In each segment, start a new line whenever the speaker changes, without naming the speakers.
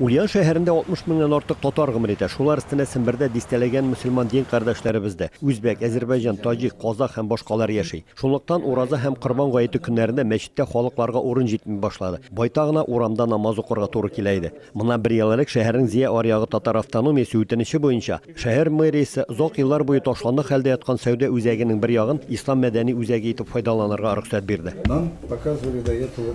Ульян шәһәрендә 60 меңнән артык татар гомер итә. Шулар өстенә Сембердә дистәләгән мөселман дин кардәшләребез дә, үзбәк, әзербайҗан, таҗик, казах һәм башкалар яши. Шунлыктан Ураза һәм Корбан гаете көннәрендә мәчеттә халыкларга урын җитми башлады. Байтагына урамда намаз укырга туры килә иде. Моннан бер ел элек шәһәрнең Зия аръягы татар автономиясе үтенече буенча, шәһәр мэриясе озак еллар буе ташландык хәлдә яткан сәүдә үзәгенең бер ягын Ислам мәдәни үзәге итеп файдаланырга рөхсәт бирде. Нам показывали
до этого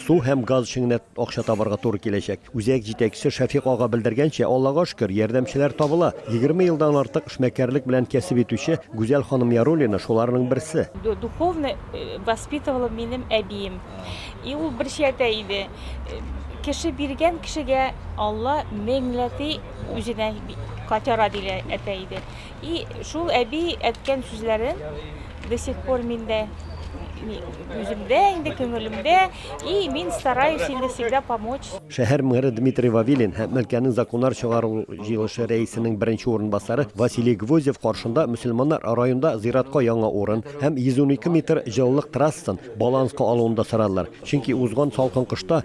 Су һәм газ эшеңенә акча табарга туры киләчәк. Үзәк җитәкчесе Шәфикъ ага белдергәнчә, Аллага шөкер, ярдәмчеләр табыла. Егерме елдан артык эшмәкәрлек белән кәсеп итүче Гүзәл ханым Яруллина шуларның берсе. Духовно
воспитывала минем әбием. И ул бер чиятә иде. Кеше биргән кешегә Алла меңләти үзенә котяра диләр әйтә иде. И шул әби әткән сүзләрен до сих пор миндә үземдә инде күңелемдә и мин стараюсь инде всегда помочь. Шәһәр мэры Дмитрий
Вавилин һәм өлкәнең законнар чыгару җыелышы рәисенең беренче урынбасары Василий Гвоздев каршында мөселманнар районда зиратка яңа урын һәм 112 метр җылылык трассын баланска алуын да сорадылар, чөнки узган салкын кышта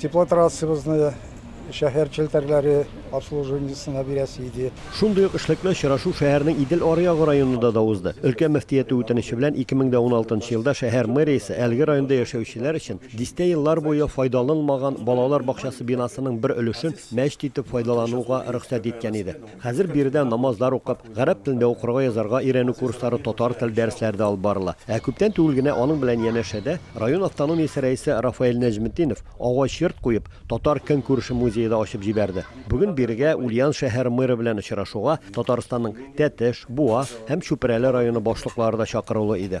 Теплотрассыбызны шәһәр челтәрләре обслуживаниесына бирәсе иде. Шундый ук эшлекле
очрашу шәһәрнең Идел аръягы районында да узды. Өлкә мөфтияте үтенече белән 2016 елда шәһәр мэриясе әлеге районда яшәүчеләр өчен дистә еллар буе файдаланылмаган балалар бакчасы бинасының бер өлешен мәчет итеп файдалануга рөхсәт иткән иде. Хәзер биредә намазлар укып, Гарәп телендә укырга, язарга өйрәнү курслары, татар теле дәресләре дә алып барыла. Ә күптән түгел генә аның белән янәшәдә район автономиясе рәисе Рафаэль Нәҗметдинов агач йорт куеп, татар көнкүреше музее да ачып җибәрде. Бүген бирегә Ульян шәһәр мэры белән очрашуга Татарстанның Тәтеш, Буа һәм Чүпрәле районы башлыклары да чакырулы иде.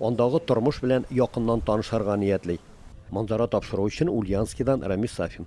Андагы тормыш белән якыннан танышырга ниятли. Манзара тапшыру өчен Ульяновскидан Рамис Сафин.